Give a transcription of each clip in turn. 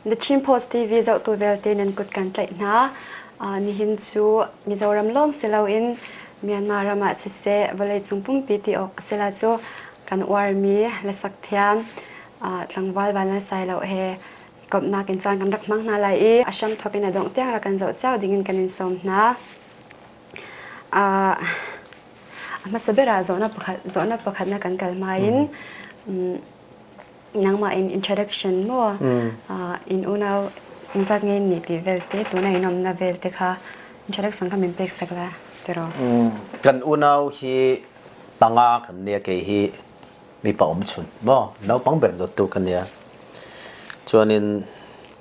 Na Chin Post TV zohtu vialte nan kut kan tlaih hna. Uh, nihin cu Mizoram lawng si loin Myanmar ram ah siseh vawleicung pumpi ti awk a si la cu kan uarmi lasak thiam uh, tlangval van na sai lo he komhnak in caan kan rak hmang hna lai i a hram thawk in a dongh tiang rak kan zoh cio ding in kan in sawm hna. A hmasa ber ah zawhnak pakhat na kan kal hma in nangmah in introduction maw in unau engzat nge nih ti vialte tuna in umna vialte kha introduction kha min pek sak la tiraw? Kan unau hi panga kan nia kei hi mipa um chun maw naupang ber dot tu kan nia. Chuanin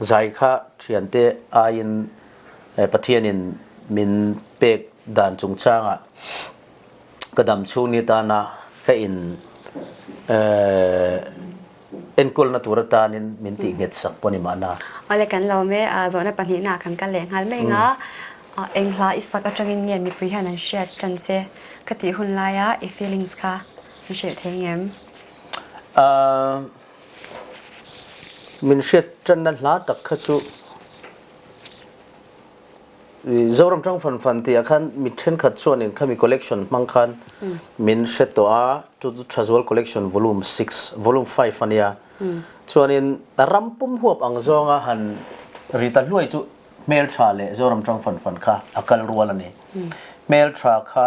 Zai kha ṭhiante ai in Pathian in min pek dan chungchang ah ka dam chung ni tan ah ka inn enkawl na tur atan in min ti nget sak pon i mahna. Ole kan lo me zawhna pahnihnak kan ka leh ngal me nga enghla i sak atangin nge mipui hian an hriat tan se ka tih hun lai ah i feelings kha an hrilh thei ngem? Minhriat ṭannak hla tak kha cu Zoram Ṭang Fan Fan ti ah khan mi ṭhenkhat chuan in khami collection hmang khan min hret tuah ah Tutu Ṭhazual Collection volume 6 volume 5 ani a chuan in ram pum huap ang zawng a han Rita Hluai cu hmelṭha le Zoram Ṭang Fan Fan kha a kal rual ani hmelṭha kha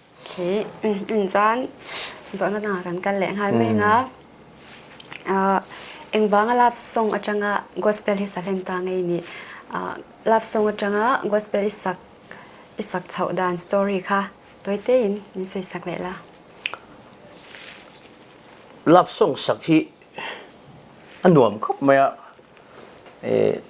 Hi caan zohnak ah kan kal leh ngal men a. Engvang a love song atanga gospel hi salen ta ngei ni. Love song atanga gospel isak isak chau dan story kha toite in min soi sak leh la. Love song sak hi a nuam khop mai a.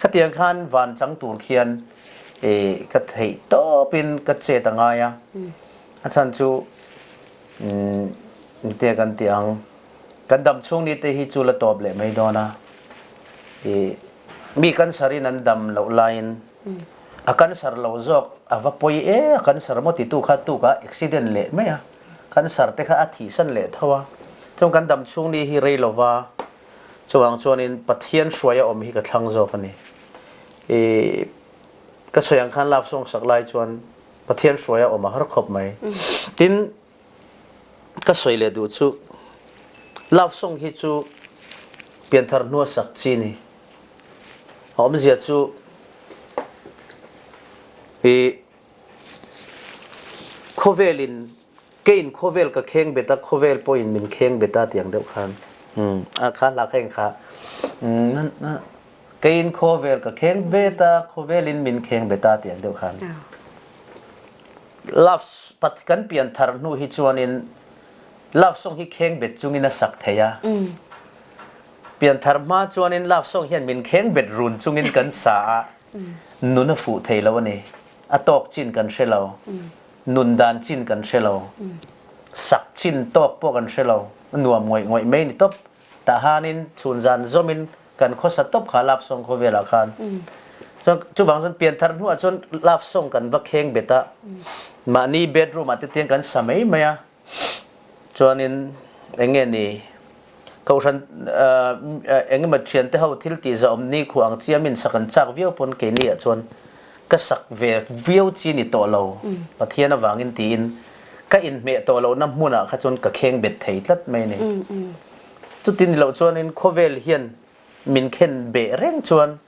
khatiang khan van cang tur khian e, ka theih topin ka chet a ngai a a chan cu mm, te kan tiang kan dam chung ni te hi cu la top le mai dona e, mi kan sarin an dam lo lain a kan sar lo zok a va poi e a kan sar mo ti tu kha tu ka accident le mai a kan sar te kha a thi san le thawa chung kan dam chung ni hi rei lova Cuang chuan in Pathian hruai a um hi ka thlang zo ka ni. I ka soyang khan laf song sak lai chuan Pathian hruai a um a har khop mai. Tin ka soi le du chu laf song hi chu pianthar nua sak chi ni. A um zia chu i khovelin ke in khawvel ka kheng bet a khawvel pawin min kheng bet a tiang deuh khan mm a kha la kheng kha na na ke in khawvel ka kheng bet a khawvel in min kheng bet a tiang deuh khan love pat kan pian thar hnu hi chuanin love song hi kheng bet chungin a sak theya pian thar ma chuanin love song hian min kheng bet run chungin kan sa a nun a fu thei lo ani a tawk chin kan hre lo nundan cin kan hre lo sak cin top pawh kan hre lo nuam ngoi ngoi mei ni top tahan in chun zan zom in kan khosa top kha laf song kho vela khan chu bang sun pian thar hnu ah chun laf song kan va kheng beta ma ni bedroom ah te tiang kan samei maya Cun in enge ni kohhran engemaw thian te ho thil ti za um ni khu ang ciam in sak an chak viau pun kei ni ahcun ka sak ve viau ci ni to lo. Pathian avang in tiin ka in hmeh to lo na hmun ah kha cun ka kheng bet thei tlat mai ni. Cuti ni lo cun in khawvel hian min khen beh reng cun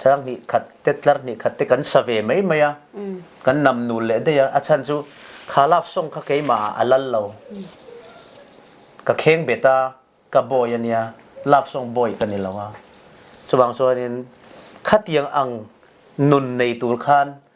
thar hnih khat te tlar hnih khat te kan sa ve mai mai a kan nam nul le dei a chan chu kha laf song kha keima a lal lo ka kheng beta ka boy ania laf song boy kan ni lo a chubang so in khatiang ang nun nei tur khan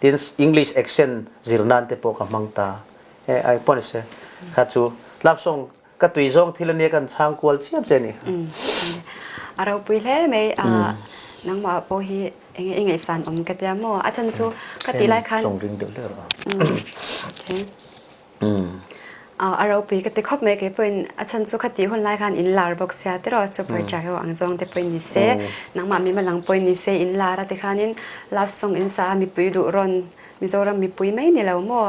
Tin English accent zir nan te po ka mang ta. Eh ai pon se. Ka chu lapsong ka tui zong thil ne kan chang kual chiap je ni. Aro pui hle mai nangma po hi inge inge san om ka tia mo achan chu ka ti lai khan Chong ring deuh le ro. Okay. a ropi ka te khop mai ke puin a chan cu khati hun lai khan in lar bok sia te ro chu poi chai ho ang zong te puin ni se nangma mi malang poi ni se in lara te khan in lap song in sa mi pui du ron mizoram mi pui mai ni lo mo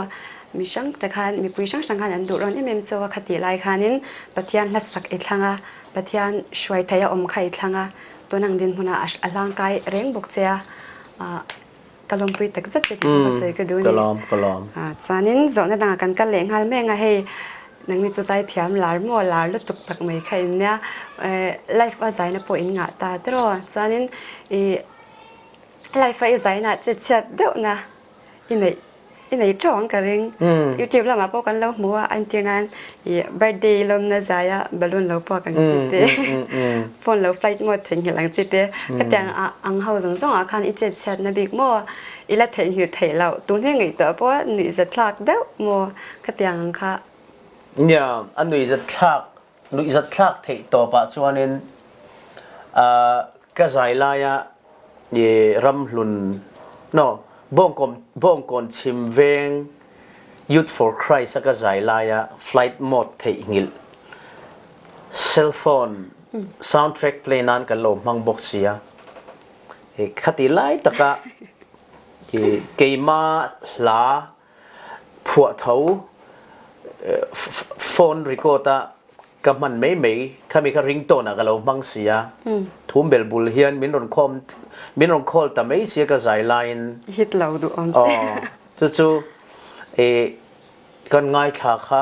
mi sang te khan mi pui sang sang khan an du ron imem cho khati lai khan in pathian hlat sak e thlanga pathian shuai thaya om khai thlanga tunang din huna alang kai reng bok chea ka lawm pui tak zet ka ti ka soi ka du ni ka lawm a chanin zo na dang kan kal le ngal me nga hei nang ni chu tai thiam lar mo lar lu tuk tak mai kha in nya life a zai na po in nga ta tro chanin i life ai zai na che chiat deuh na i nei i nei ṭhawng ka ring YouTube lam ah pawh kan lo hmu a an ti nain i birthday lom na zai ah balloon lo pawh kan ci te phone lo flight mode theng hi lang ci te katiang ang hau zong zong ah khan i chet siat na bik mo i la thei hir thei lo tu ne ngai to po ni za thlak deuh mo katiang kha ya an ni za thlak luihzatthlak theih tawp ah chuan in uh, ka zai lai ah i ramhlun no bongkom bongkon chim veng youth for christ ka zai lai ah flight mode theih ngil cell phone soundtrack play nan kan lo mang bok sia e khati lai taka ke keima hla phuahtho phone record ah ka hman mai mai khami kha ringtone ah ka lo hmang sia thum bel bul hian min rawn khom min rawn call ta mai sia ka zai line hit lo du on oh cucu e kan ngaithla kha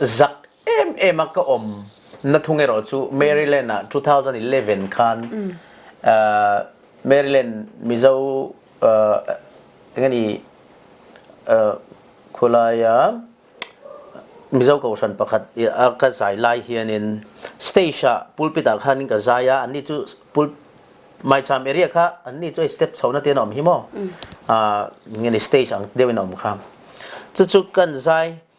zak emem ah ka um na thung ero cu Maryland ah 2011 khan uh, Maryland Mizo uh, ngani uh, khulaya Mizo kohran pakhat ka zai lai hian in stage ah pulpit ah khan in ka zai a anni chu pul mai cham area kha anni chu step chona te na om himo a ngani stage ang dewin om kha chu chu kan zai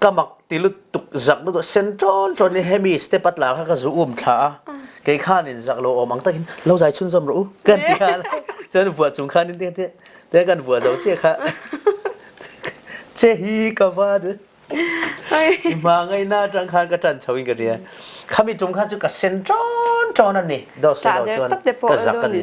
ka mak ti lu tuk zak lu sen chon chon ni hemi stepat la kha ka zu um thla a kei khan in zak lo om ang takin lo zai chun zom ru kan ti kha chan vua chung khan in te te te kan vua zo che kha che hi ka va de ma ngai na tang khan ka tan chawin ka ria khami tum kha chu ka sen chon chon ani do so lo chon ka zak ani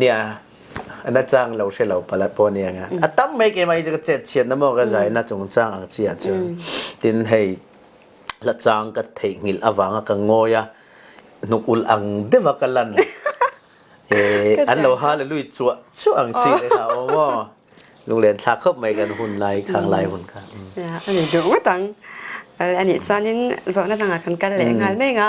nia na cang lo hri lo palat po nia nga a tam mei ke mai ka chet chiat na mo ka zai na chung cang ang chi a chu tin hei la chang ka thei ngil awanga ka ngoya hnuk ul ang deva ka lan eh an lo hallelujah chu chu ang chi le ka o mo lung len thla khop mai kan hun lai khang lai hun kha ya ani du utang al ani chanin zo na tanga kan kal le ngal me nga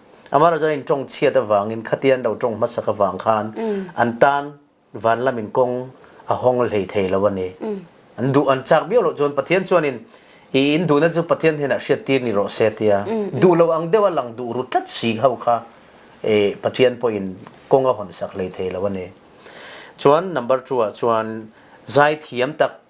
Amar cun in ṭong chiat avang in khati an lo ṭong hmasak avang khan an tan van lam in kong a hong hlei thei lo ani an duh an chak bio lo cun Pathian chuan in i in duhna cu Pathian hnenah hriattir ni rawh se tia duh lo ang deuh a lang duh ru tlat si ho kha e Pathian pawh in kong a hon sak hlei thei lo ani chuan number 2 ah chuan zai thiam tak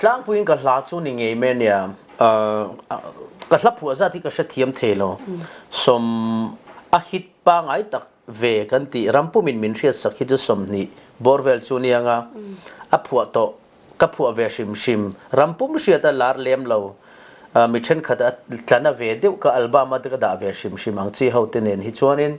Tlangpui in ka hla cu ni ngei men iah. Ka hla phuah zat hi ka hre thiam thei lo. Som a hit pa ngai tak ve kan ti. Rampum in min hriat sak hi cu som hnih borvel cu ni anga a phuah to. Ka phuah ve hrimhrim. Rampum hriat a lar lem lo. Mi ṭhenkhat a tlan a ve deuh ka album ah te ka dah ve hrimhrim ang. Ci ho te nen hi chuan in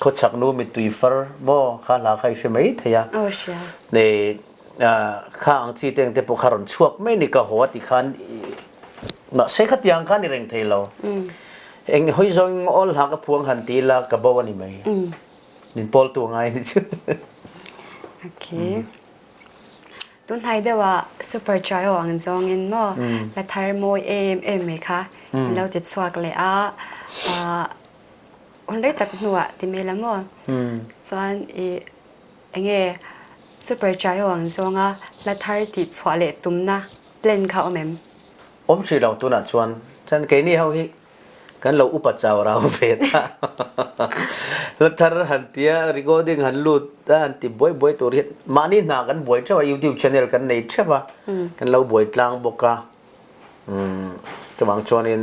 khuachak nu mittui far maw kha hla khai hri mai theya ne kha ang chi teng te po kharon chuak mai ni ka ho ti khan ma se kha tiang khan i reng thei lo eng hoi zong ol hla ka phuang han ti la ka bo ani mai nin pol tu ngai ni chu okay tun hai dewa super try ang zong in mo la thar moi em em me kha lo te chuak le a Onlei tak hnu ah ti mei la maw? Cun i enge supergiant zong a la thar ti chuah le tum na plan kha um em? Um si lo tunah cun. Cun keini ho hi kan lo upat cau rau ve dah. La thar han tia recording han lut han ti buai buai tur hi mah ni hna kan buai ṭheu a YouTube channel kan nei ṭheu a. Kan lo buai tlang bawk a. Tumang chuan in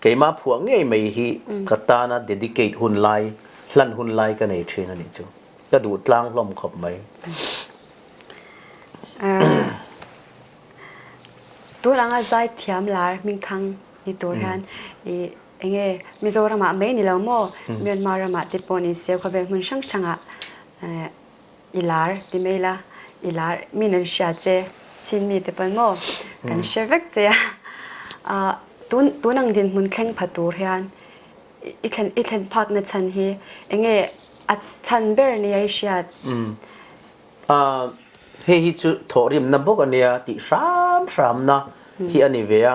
keimah phuah ngei mei hi ka tana dedicate hun lai hlan hun lai ka nei thin ani chu ka du tlang hlom khop mai tu langa zai thiam lar mingthang ni tur hian i enge mizoram ah mai ni lo mo myanmar ram ah te pon in seu khawvel hmun sang sanga i lar ti mei la. I lar mi nan sia ce. Chinmi te pan maw kan sia vek te ah. Tun nang dinhmun thleng phatur hian i thlen phak na chan hi enge a chan ber ni ai siat? Hei hi cu thawrim na buk ania ti hram hram na hi ani ve a.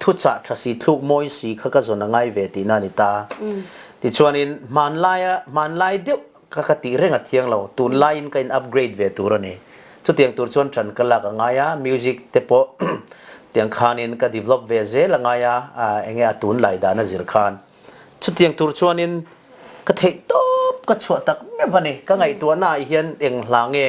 thucah tha si thluk mawi si kha ka zon a ngai ve ti na ni ta ti chuan in hman lai a hman lai deuh ka ka ti reng a thiang lo tun lai in ka in upgrade ve tur ani chu tiang tur chuan tran ka lak a ngai a music te po tiang khan in ka develop ve zel a ngai a enge a tun lai da na zir khan chu tiang tur chuan in ka thei top ka chua tak me vani ka ngai tu na hi hian eng hlange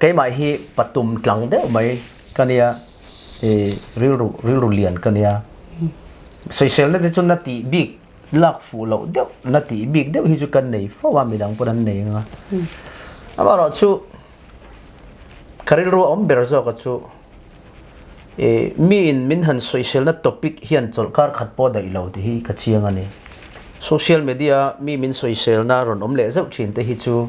keimah hi patum tlang deuh mei kan ia i rilru rilru lian kan ia soisel na te cun na ti bik lak fu lo deuh na ti bik deuh hi cu kan nei fo a midang pun an nei nga amaro cu karilru om ber zo ka chu e mi in min han soisel na topic hian chol kar khat po dai lo ti hi ka chiang ani social media mi min soisel na ron om le zau chin te hi chu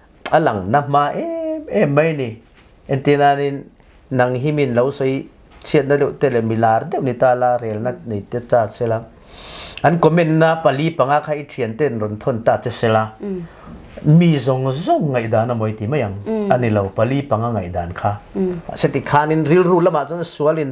a lang na hma em mai ni enti nain nang hi min lo sei chiat na deuh te le milar deuh ni ta la rel na nei te cha sela an comment na pali panga kha i thian ten ron thon ta che sela mi zong zong ngai dan a moi ti mai ang ani lo pali panga ngai dan kha se ti khan in ril ru lama chon sualin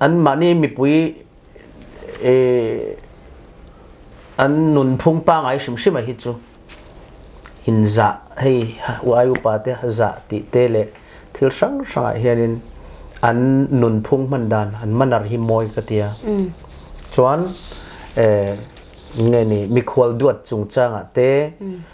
Anmah nih mipui an nunphung pa ngai hrimhrim a hi cu inn zah hei ai upa te zah ti te le thil hranghrang ah hin in an nunphung hman dan an manar hi mawi ka tia. Cun nge nih mikhual duat cungcang ah te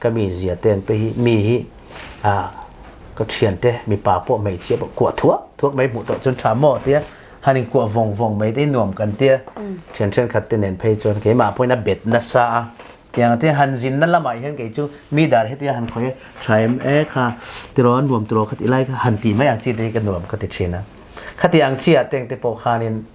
ka mi zia ten te hi mi hi ah ka thian te mi pa po mei chia po kuah thuak thuak mei hmuh to cun tha mo tia han in kuah vong vong mei te nuam kan tia thian thian khat te nen phei chuan ke ma point a bet na sa a tiang ti han zin na lamai hen kei chu mi dar he ti han khoi thaim e kha tiron nuam tiro khat ilai kha han ti mai ang chi te ka nuam ka ti thina khati ang chi a teng te po khanin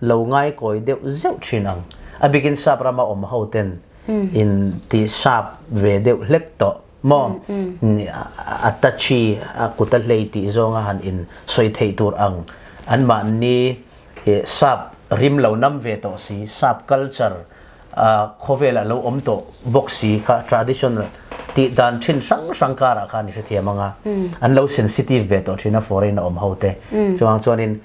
lo ngai kawi deuh zeuh chin ang a bikin sap ram a um ho ten in ti sap ve deuh hlek to mo ni a tachi a kuta hlei ti zonga han in soi thei tur ang an ma ni sap rim lo nam ve to si sap culture khowela lo om to boxi kha traditional ti dan chin sang sang kara khan shi thiam anga an lo sensitive ve to chin a foreign om hote chuang chuanin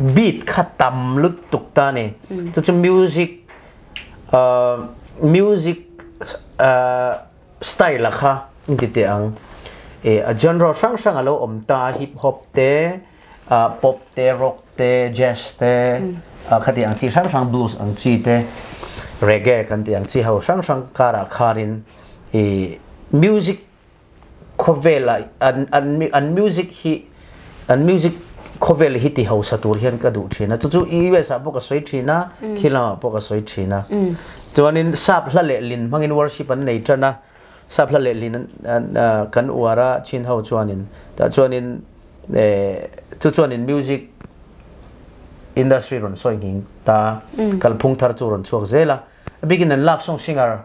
beat kha tam lut tuk ta ni cucu music uh, music uh, style la kha inti te ang e a genre sang sang alo om ta hip hop te uh, pop te rock te jazz te uh, khati ang chi sang sang blues ang chi te reggae kan ti ang chi ho sang sang kara kharin e music khawvel ah an an an music hi an music khawvel hi ti hausa tur hian ka duh thin a cucu US ah pawh ka soi thin a khi lama pawh ka soi thin a chuanin sap hla le lin hmangin worship an nei tan a sap hla le lin an kan uar a chin ho chuanin ta chuanin chu chuanin music industry ron soi ngin ta kalphung thar chu ron chuak zela a bikin an love song singer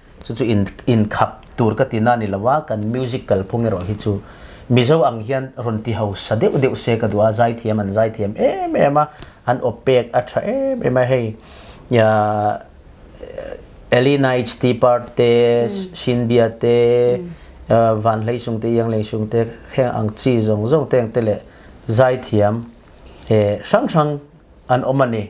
cucu in in khap tur ka tina ni lawa kan music kal phung ero hi chu mizo ang hian ron ti ho sa deuh deuh se ka dua zai thiam an zai thiam em em a an opek a tha em em a hei ya Elina H T Part te Shin Bia te Van Hlei Sung te Yang Lei Sung te heng ang chi zong zong teng te le zai thiam e sang sang an omani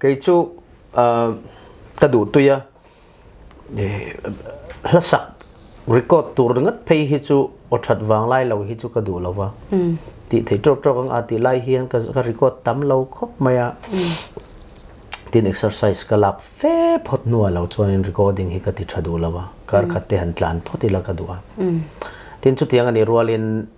kei cu ka duhtui a hlasak record tur ngat phei hi cu aw ṭhat vang lai lo hi cu ka duh lo a ti thei ṭawk ṭawk ang a ti lai hian ka record tam lo khawp mai a tin exercise ka lak fe phawt hnuah lo chuan recording hi ka ti ṭha duh lo a karkhat te han tlan phawt ila ka duh a tin chutiang a nih rualin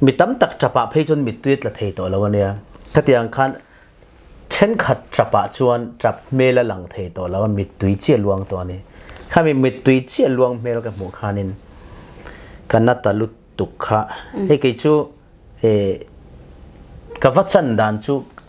Mi tam tak ṭap ah phei cun mittui tla thei tawh lo ania. Khatiang khan ṭhenkhat ṭap ah chuan ṭap hmel a lang thei tawh lo. Mittui cia luang tawh ani. Khami mittui cia luang hmel ka hmuh khanin ka na ta lutuk kha. Hei kei cu eh, ka va chan dan cu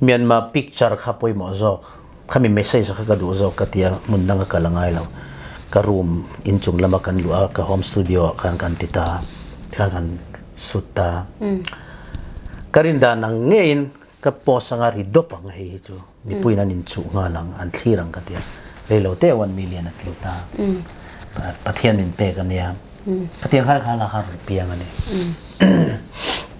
Myanmar picture kha poi maw zawk khami message kha ka duh zawk ka tia mun dang ka la ngai lo ka room in chung lama kan lu a ka home studio ah khan kan ti ta kha kan sut ta ka rin dan ang ngein ka post anga ri dop ang hei hi chu nipui nan in chu nga lang an thli rang ka tia reilo te 1 million a tlu ta pathian min pe ka nia pathian khal khala har piang ani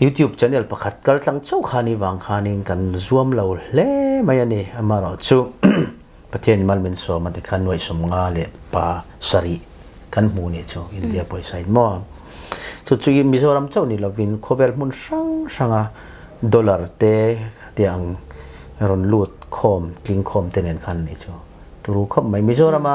YouTube channel pakhat kal tlang cheu khani wang khanin kan zuam lo hle mai ani amaro chu pathian mal min so ma te khan noi som nga le pa sari kan mu ni chu india poisa in mo chu chu in mizoram cheu ni lovin khovel mun sang sanga dollar te tiang ron lut khom tling khom te nen khan ni chu turu khop mai mizorama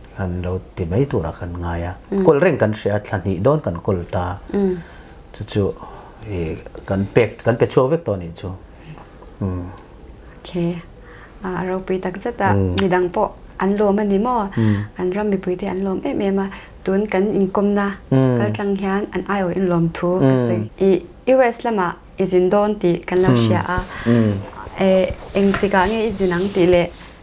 kan lo ti mai tur ah kan ngai a kul reng kan si a thla hnih don kan kul ta cu cu kan pek kan pe chuo vek to ni cu okay a ro pi tak zet a mi dang po an lom ani mo an ram mi pui te an lom em em a tun kan in kom na kal tlang hian an ayo in lom thu ka si i US lama izin don ti kan lam sia a e engtika nge izin ang ti le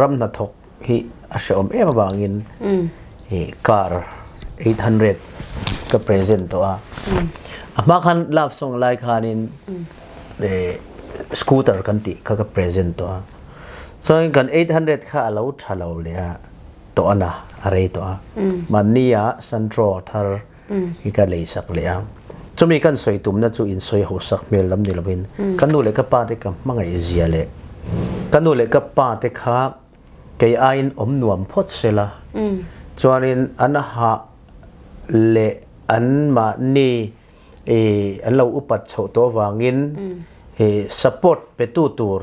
ram hnathawk hi a hreawm em avangin hi car 800 ka present to a a hma khan love song lai khan in scooter kan ti kha ka present to a so kan 800 kha alo thalo le a to ana are to a man ni a central thar i ka lei sak le a cumi kan soi tum na cu in soi ho sak hmel lam ni loin kan nu le ka pa te ka mangai zia le kan nu le ka pa te kha kei ain om nuam phot sela chuanin an ha le an ma ni e an lo upat chho to wangin e support petu tur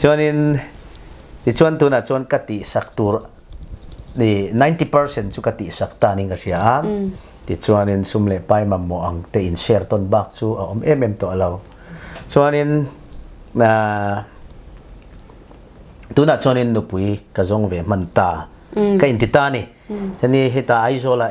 Cun i cuan tun ahcun ka tihsak tur i 90% cu ka tihsak ta ning ka hria. Tichuan in sum le pai mammaw ang tein share ton bak cu a om em em to lo. Chuan in tun ahcun in nupui ka zong ve hman ta. Ka in ti ta ni. Tani hita Aizawl ah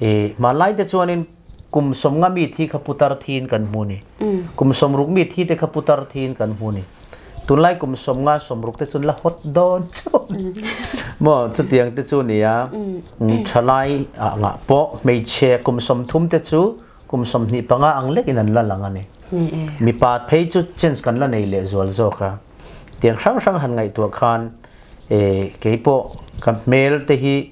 I hmanlai te chuan in kum sawm nga mi thi kha putar thi in kan hmun i kum sawm ruk mi thi te kha putar thi in kan hmun i tunlai kum sawm nga sawm ruk te cun la hot don chun mo chutiang te chu ni a thalai a nga po meiche kum sawm thum te chu kum sawm hnih panga ang lek in an la lang ani mi pa phei chu change kan la nei leh zual zo kha tiang hrang hrang han ngaih tua khan e kei po ka hmel te hi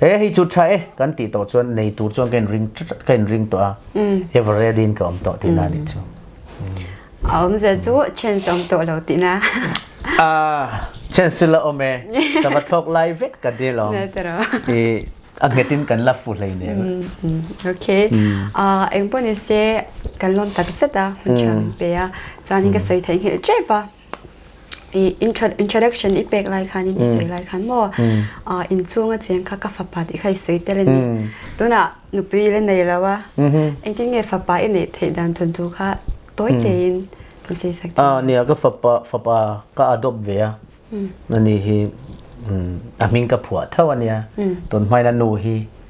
He hi cu ṭha e kan ti to cun nei tur cun kan ring kan ring tuah ah Everett in ka um to ti na nih cu. A um ze cu chen som to lo ti na. A chen su la om e sa va thok lai vek ka de lo. Ne tero. I a ngetin kan la fu hlei ne. Okay. Ah eng pon se kan lon tak zet a hun chang pe a. Chan in ka soi thai ngil chep a. i interaction i pek lai khan in i soi lai khan maw ah inchung a cheng kha ka fapa ti khai soi te le ni tunah nupi le nei lo a engtin nge fapa i neih theih dan thun tu kha toi tein kan sei sak a ni ka fapa fapa ka adopt ve a ani hi a hming ka phua tho ania ton mai na nu hi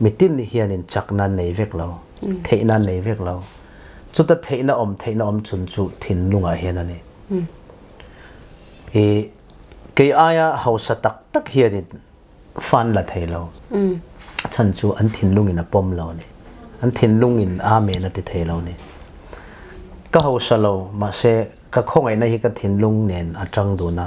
mitin nih hin in chak nan nei vek lo theih nan nei vek lo cu ta theih na om theih na om chun cu thinlung ah hin ani i kei aya hausa tak tak hian in fan la thei lo chan chu an thinlung in a pom lo ni an thinlung in amen a ti thei lo ni ka hausa lo ma se ka khawngaih na hi ka thinlung nen a tang du na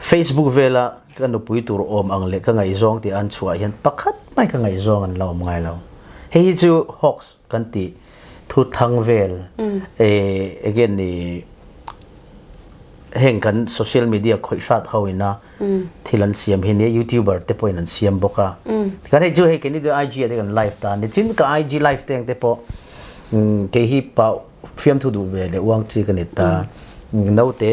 Facebook vel ah ka nupui tur awm ang le ka ngei zong ti an chuah hian pakhat mai ka ngei zong an la awm ngai lo. Hi cu hoax kan ti thu thang vel eh again ni heng kan social media khoi hrat ho ina thil an siam hi ne youtuber te poin an siam boka kan hei ju hei keni tu IG te kan live ta ni chin ka IG live teng te po ke hi pa fiam thu du ve le uang chi kan ta note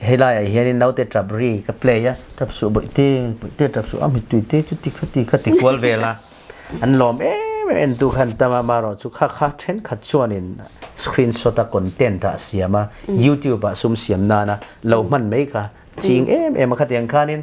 Hei lai ah hian in naute ṭap ri ka play a ṭap su boi te boi te ṭap su a mit tui te cu ti khat ti khat ti kual ve la an lawm em em tu khan tama maro chu kha kha ṭhen khat chuan in screenshot a content a siam a YouTube ah sum siam nana lo hman mai ka ching em em a khatiang khan in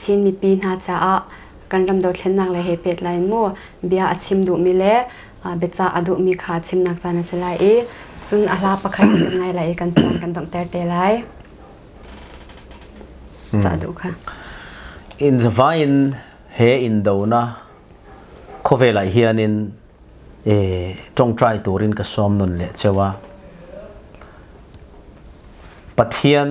Chin mipi hna caah kan ram dothlennak le he pehtlai in mu bia a chim duhmi le biacah a duhmi kha chimnak caan a si lai i cun a hla pakhat ngai lai i kan caan kan donghter te lai. Cah duh kha. In zavain he in do na khawvel ah hianin e tongtrai turin ka som nun le chewa Pathian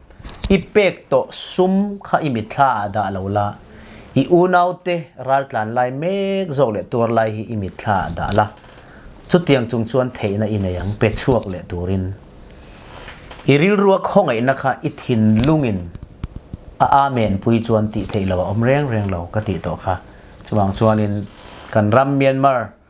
I pektaw sum kha i mitthla ah dah lo la, i unaute raltlan lai mek zawk le tuar lai hi i mitthla ah dah la. Cutiang chung chuan theihna i nei ang, pe chuak le turin. I rilrua khongaihna kha i thinlungin a amen pui chuan ti thei lo a om reng reng lo ka ti to kha. Chuang chuanin kan ram Myanmar